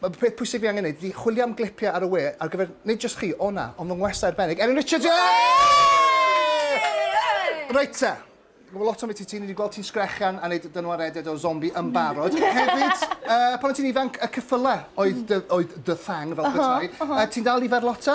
Mae'r peth pwysig fi angen wneud ydy chwilio am glipiau ar y we ar gyfer nid jyst chi, o na, ond fy ngwestai arbennig, Erin Richards! Reit te. Mae lot o'n beth i ti, ni wedi gweld ti'n sgrechian a wneud dynwa reded o zombi yn barod. Hefyd, uh, pan o'n ti'n ifanc, y cyffylau oedd dy, oedd dy thang fel petai. Uh, ti'n dal i ferlota?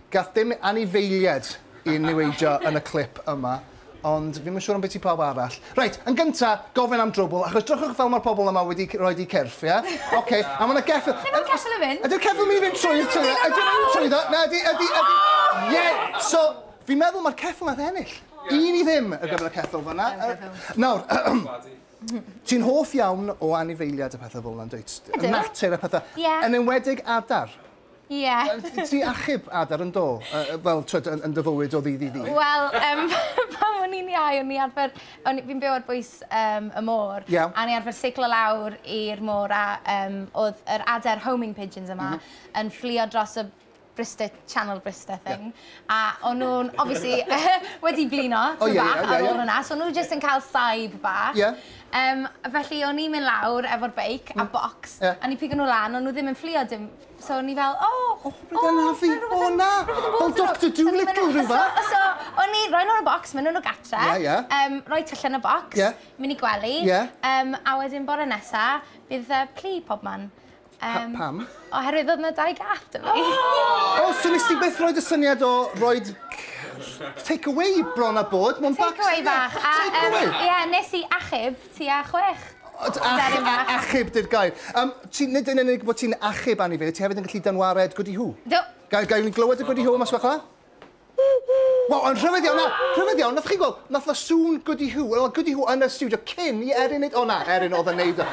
Gath dim anifeiliaid i niweidio yn y clip yma, ond fi'm yn siŵr ambiti pawb arall. Reit, yn gynta, gofyn am drwbwl, achos drychwch fel ma'r pobl yma wedi roi di cyrff, ie? Ocê, a ma' 'na geffyl... Lle ma'r ceffyl yn mynd? Ydi'r ceffyl myn' i fynd trwydd trwyddo? Ydyn nw'n mynd trwyddo? Na, ydi, ydi, ydi. Ie! So, fi'n meddwl ma'r ceffyl nath ennill. Un i ddim ar gyfer y ceffyl fan'na. Nawr, ti'n hoff iawn o anifeiliad a pethe fel 'na yndwyt? Ydw. Natur a pethe. Ie. Yn enwedig adar. Ie. Yy ti achub adar yn do? Yy yy wel t'wod yn yn dy fywyd o ddydd i ddydd? Wel yym pan o'n i'n iau o'n i arfer o'n i fi'n byw ar bwys yym y môr... Ie. ...a o'n i arfer seiclo lawr i'r môr a yym o'dd yr adar homing pigeons yma... M-hm. ...yn fflio dros y Bryste- Channel Bryste thing. Ie. A o'n nhw'n obviously wedi blino tŷ bach ar ôl hwnna, so o'n nhw jyst yn cael saib bach. Yym, felly o'n i'n mynd lawr efo'r beic a bocs, a o'n i'n pigo nhw lan, o'n nhw ddim yn fflio dim, so o'n i fel o! O, rhywbeth yn anafu! O na! Fel Doctor Dolittle rhywbeth! So o'n i'n rhoi nhw yn y bocs, mynd â nhw gartre, yym rhoi tyllau yn y bocs, mynd i gwely, yym a wedyn bore nesa bydd plu pobman. Um, pam? Oherwydd oedd yna dau gath da fi. O, oh, so nes ti beth roed y syniad o roed take away bron a bod, mae'n bac. Take away bach. Take away. Ie, yeah, nes i achub ti a chwech. Achub dy'r gair. Um, ti, nid yn unig bod ti'n achub anifeiliaid, ti hefyd yn gallu dynwared gwdi hw. Do. Gael, gael ni glywed y gwdi hw mas fach Wel, yn rhyfedd iawn, na, rhyfedd iawn, nath chi'n gweld, nath o sŵn Goody Who, wel, oedd Goody Who yn y studio cyn i Erin neud, o na, Erin oedd yn neud o.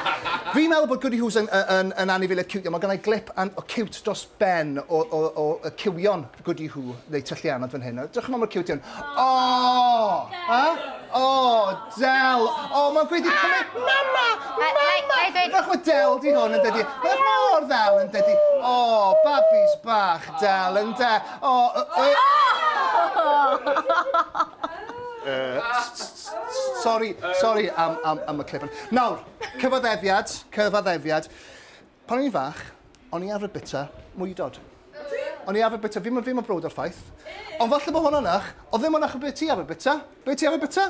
Fi'n meddwl bod Goody Who's yn, yn, yn anifiliad cute iawn, mae gennau glip an, o cute dros ben o, o, o, o cywion Goody Who, neu tyllianod fan hyn, drwch yma mor cute iawn. O! Ha? O, Del! O, mae'n gweud i cymryd... Mama! Mama! Drwch mae Del di hwn yn dydi. Mae'n mor ddel yn dydi. O, babis bach, Del yn de. Sori, sori am am am y clip. Nawr, cyfaddefiad, cyfaddefiad. Pan o'n i'n fach, o'n i arfer bita mwydod. O'n i arfer bita, fi'm yn fi'm yn browd o'r ffaith. Ond falle bod hwnna'n wych, ond ddim ond achos be' ti arfer bita. Be' ti arfer bita?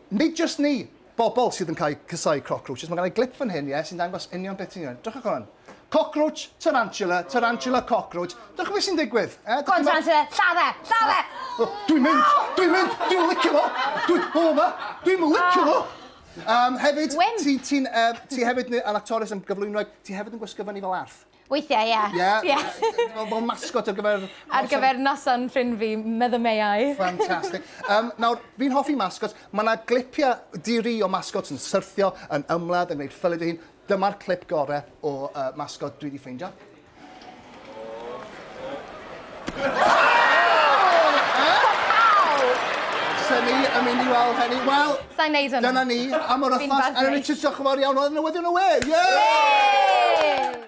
Nid jyst ni, bobl sydd yn cael eu casáu crocrwtshs. Mae gen i glip fan hyn, ie, sy'n dangos union beth sy'n digwydd. Drychwch ar hwn. Cocrwtsh, tarantula, tarantula, cocrwtsh. Drychwch beth sy'n digwydd. Eh? Go on, tarantula, lladd e! Lladd e! O, dwi'n mynd! Dwi'n mynd! Dwi'n licio fo! Dwi... O, ma! Dwi'n licio fo! Um, hefyd, ti'n... Ti'n... Uh, ti hefyd yn actores yn gyflwynoeg, ti hefyd yn gwisgo fyny fel arth. Weithiau, ie. Ie? Ie. Fel fel mascot ar gyfer noson... Ar gyfer noson ffrind fi, Mother May I. Fantastic. Um, nawr, fi'n hoffi mascots. Mae yna glipiau diri o mascots yn syrthio, yn ymladd, yn gwneud ffylid ei hun. Dyma'r clip gorau o uh, mascot dwi wedi ffeindio. Sa'n ni yn mynd i weld hynny? Wel... Sa'n neud hynny. Dyna ni, am yr wythnos. Yn y Richard, diolch yn fawr iawn. Oedd yn newyddion y we. Yay!